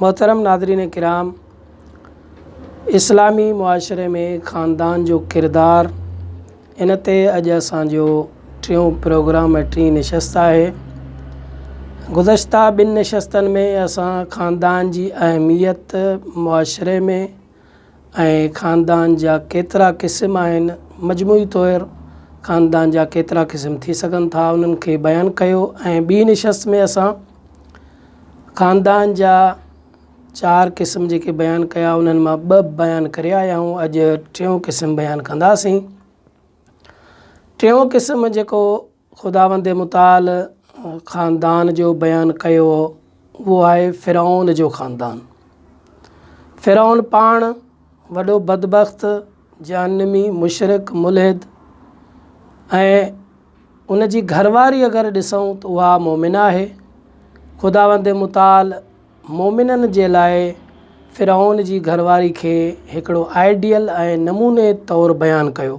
محترم ناظرين ڪرام اسلامي معاشري ۾ خاندان جو ڪردار ان تي اڄ اسان جو ٽيون پروگرام ۽ ٽين نشست آهي گذشته ٻن نشستن ۾ اسان خاندان جي اهميت معاشري ۾ ۽ خاندان جا ڪيترا قسم آهن، مجموعي طور خاندان جا ڪيترا قسم ٿي سگهن ٿا انهن کي بيان ڪيو ۽ ٻي نشست ۾ اسان خاندان جا چار قسم جيڪي بيان ڪيا انهن مان ٻه بيان ڪري آيا آهيون اڄ ٽيون قسم بيان ڪنداسين ٽيون قسم جيڪو خداوند متعال خاندان جو بيان ڪيو اهو آهي فرعون جو خاندان. فرعون پاڻ وڏو بدبخت، جهنمي، مشرڪ، ملحد ۽ ان جي گهرواري اگر ڏسون ته اها مؤمنه آهي. خداوند متعال مؤمنن جي لاء فرعون جي گهرواري کي هڪڙو آئيڊيل ۽ نموني طور بيان ڪيو.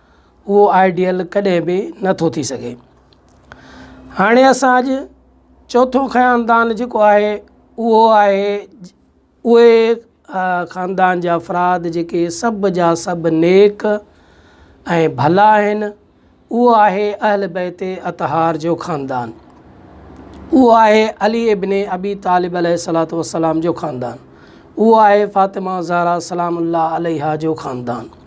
اهو آئيڊيل ڪڏهن به نه ٿو ٿي سگهي. هاڻي اسان اڄ چوٿون خاندان جيڪو آهي اهو آهي اهي خاندان جا افراد جيڪي سڀ جا سڀ نيڪ ۽ ڀلا آهن اهو آهي اهل بيت اطهار جو خاندان اهو آهي علي ابن ابي طالب عليه صلاحت وسلام جو خاندان اهو آهي فاطمه زهرا سلام الله عليها جو خاندان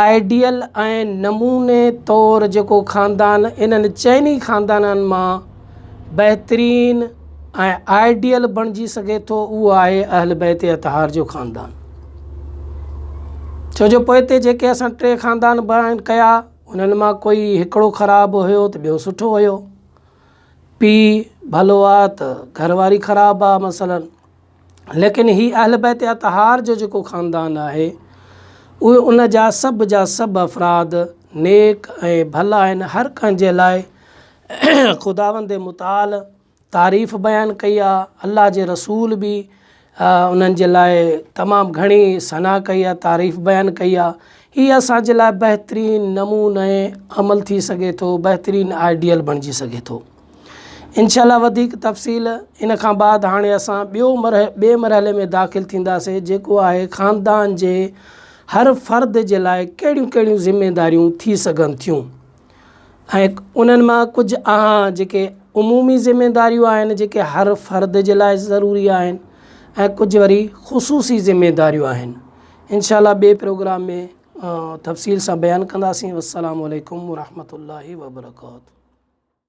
آئيڊيل ۽ نموني طور جيڪو خاندان انهن چئني خاندانن مان بهترين ۽ آئيڊيل بڻجي سگهي ٿو اهو آهي اهل بيت اطهار جو خاندان ڇو جو پوئتي جيڪي اسان ٽي خاندان بيان ڪيا انهن مان ڪوئي هڪڙو خراب هيو ته ٻيو سٺو هيو پيء ڀلو آهي ته گهر واري خراب آهي مثلاً ليڪن هي اهل بيت اطهار جو جيڪو خاندان آهي اهي ان جا سڀ جا سڀ افراد نيڪ ۽ ڀلا آهن هر ڪنهن جي لاء خداوند متعال تعريف بيان ڪئي آهي الله جي رسول بي انهن جي لاء تمام گهڻي ثنا ڪئي آهي تعريف بيان ڪئي آهي هي اسان جي لاء بهترين نموني عمل ٿي سگهي ٿو بهترين آئيڊيل بڻجي سگهي ٿو انشاء الله وڌيڪ تفصيل ان کان بعد هاڻي اسان ٻيو مرح ٻئي مرحلي ۾ داخل ٿينداسي جيڪو آهي خاندان جي هر فرد جي لاء ڪهڙيون ڪهڙيون ذميداريون ٿي سگهن ٿيون ۽ انهن مان ڪجهه اها جيڪي عمومي ذميداريون آهن جيڪي هر فرد جي لاء ضروري آهن ۽ ڪجهه وري خصوصي ذميداريون آهن انشاء الله ٻئي پروگرام ۾ تفصيل سان بيان ڪنداسين والسلام عليڪم ورحمة الله وبرڪاته